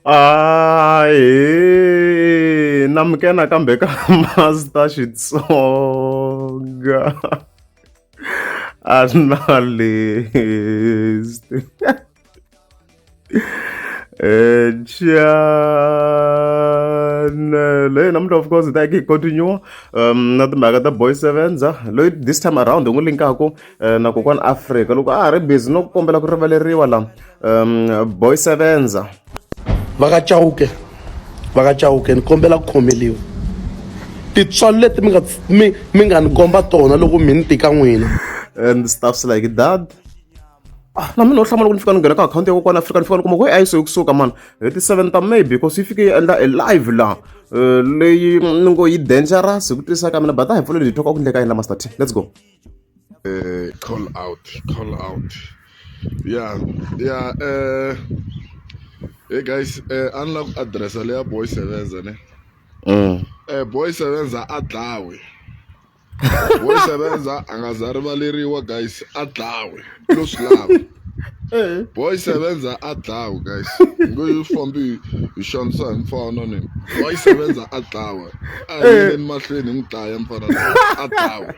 Ay, hey, namkena kambe ka Master Xitsonga. Analyst. Eh, channel hey, namuntlha of course hi ta yeke hi continue um na timhaka ta boy sevenza loyi this time around hi n'wi linkaku Eh, na kokwana afrika loko a ha ri busy no kombela ku rivaleriwa la um boy sevenza vakachauke vakachauke ni kombela ku khomeliwa tintswalo leti mi nga mi mi nga ni komba tona loko mi ni tika n'wina and stuffs like that ah, na mina u hlamula ku ni fika ni nghena ka akhawunti ya kokwana afrika ni fika ni kuma ku a yi so kusuka mani hi ti seven ta maybe because yi fike yi endla a live laha eh, leyi ni ngo yi dangerous hi ku twisisa ka mina but a hi pfuleli hi thoka ku ndleka yini la master t let's go Uh, call out, call out. Yeah, yeah. Uh, hey guys, uh, unlock address leya boy sevenza ne. Mm. Uh, boy sevenza a dlawe. boy sevenza a nga za rivaleriwa guys a dlawe lo swi lava eh. boy sevenza a dlawe guys ngo yi fambi hi xanisa hi mfana ni boy sevenza a dlawe a yini eh. mahlweni hi n'wi dlaya mfana a dlawe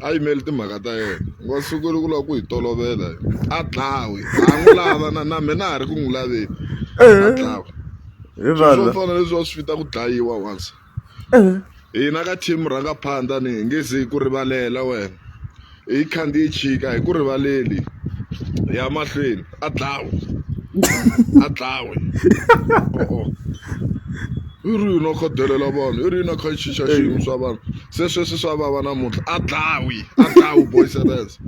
a yimeli timhaka ta yena nga sukeli ku lava ku yi tolovela a dlawi a n'wi lava na na mina a ha ri ku n'wi laveni a eh. dlawi swo fana leswi va swi fita ku dlayiwa once eh. hina ka team rhanga phanda ni hi nge ze ku rivalela wena hi khandziye chika hi ku rivaleli ya mahlweni a dlawe a dlawe o-o i ri yini a kha delela vanhu i ri yini a kha chicha xiyimo swa vanhu se sweswi swa vava namuntlha a dlawi a dlawi boys and girls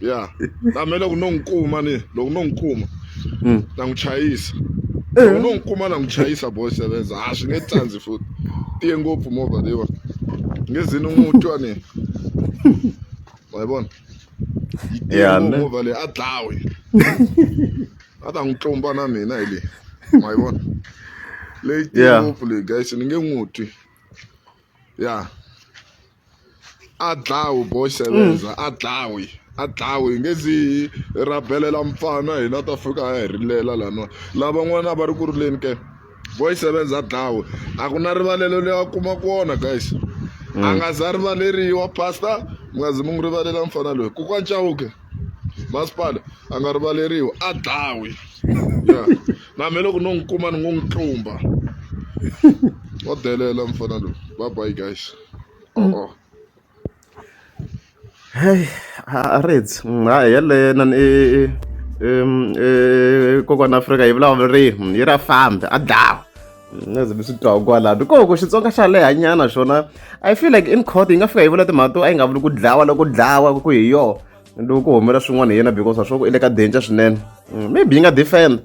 ya tame loko no n'wi kuma ni loko no n'wi kuma na n'wi chayisa loko no n'wi kuma na n'wi chayisa boys and girls ha swi nge tsandzi futhi tiye ngopfu movha leyiwani nge ze ni n'wi twa ni wa yi vona yi tele movha leyi a dlawe a ta n'wi tlumba na mina hi leyi ma yi vona leyi tele ngopfu leyi guys ni nge n'wi twi ya a dlawe boy sevenza a dlawe a dlawe nge zi rabelela mfana hina ta fika a hi rilela laniwa lavan'wana a va ri ku rileni ke voice sevenza dlawe a ku na rivalelo leyi a kuma ku wona guys a nga za rivaleriwa pastor mi nga zi mi n'wi rivalela mfana loyi ku kwancawuke masipala a nga rivaleriwa a dlawe ya na me loko no n'wi kuma ni ngo n'wi tlumba wa delela mfana loyi bye bye guys oh, oh. Heyi a ri dyi hayi yeleyo inana i i i kokwana Afrika yi vulavula yini yi ra fambi a dlawa a ze ni swi twa kwalano ko ku Xitsonga xa leha nyana xona I feel like in court yi nga fika yi vula timhaka to a yi nga vuli ku dlawa loko dlawa ku hi yoho loko ku humelela swin'wana hi yena because wa swa ku i le ka danger swinene maybe yi nga defend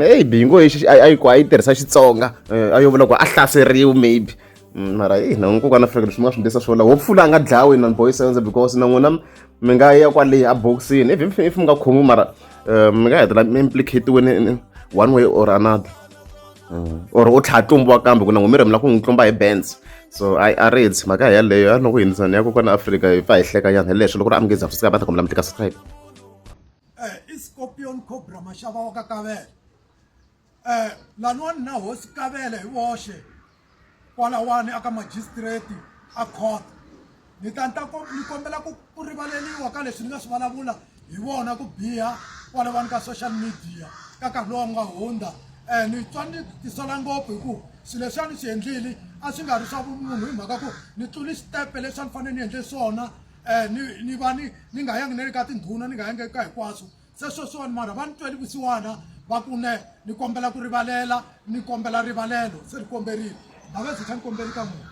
maybe yi ngo a yi a yi tirhisa Xitsonga a yo vula ku a hlaseriwa maybe. Mm, mara i na nkoka na fika leswi mi nga swi ndlisa swona wo pfula a nga dlawi na boy sense because na n'wina mi nga ya kwale a boxini if if if mi nga khomi mara eh, mi nga hetelela mi implicatiweni one way or another mm. or u tlhaya tlumbiwa kambe ku na n'wi mi rhemela ku n'wi tlumba hi bands so i a reads mhaka yaleyo a loko hindisa ni ya kokwana afrika hi pfa hi hleka nyana hi leswi loko ri amukeza swi sika va ta kombela mi tika subscribe eh, i scorpion cobra maxava wa ka kavela um laniwani na hosi kavele hi voxe kwalawani aka magistrate a court ni ta ni ta ni kombela ku ku rivaleliwa ka leswi ni nga swi vulavula hi vona ku biha kwalawani ka social media ka nkarhi lowu nga hundza um ni twa ni tisola ngopfu hi ku swilo leswi a ni swi endlile a swi nga ri swa vumunhu hi mhaka ku ni tluli xitepe leswi a ni fanele ni endle swona um ni ni va ni ni nga yangi ni le ka tindhuna ni nga yangi eka hinkwaswo se sweswiwani mara va ni tweli vusiwana va ku ne ni kombela ku rivalela ni kombela rivalelo se ni komberile navese xa ni kombeli ka munhu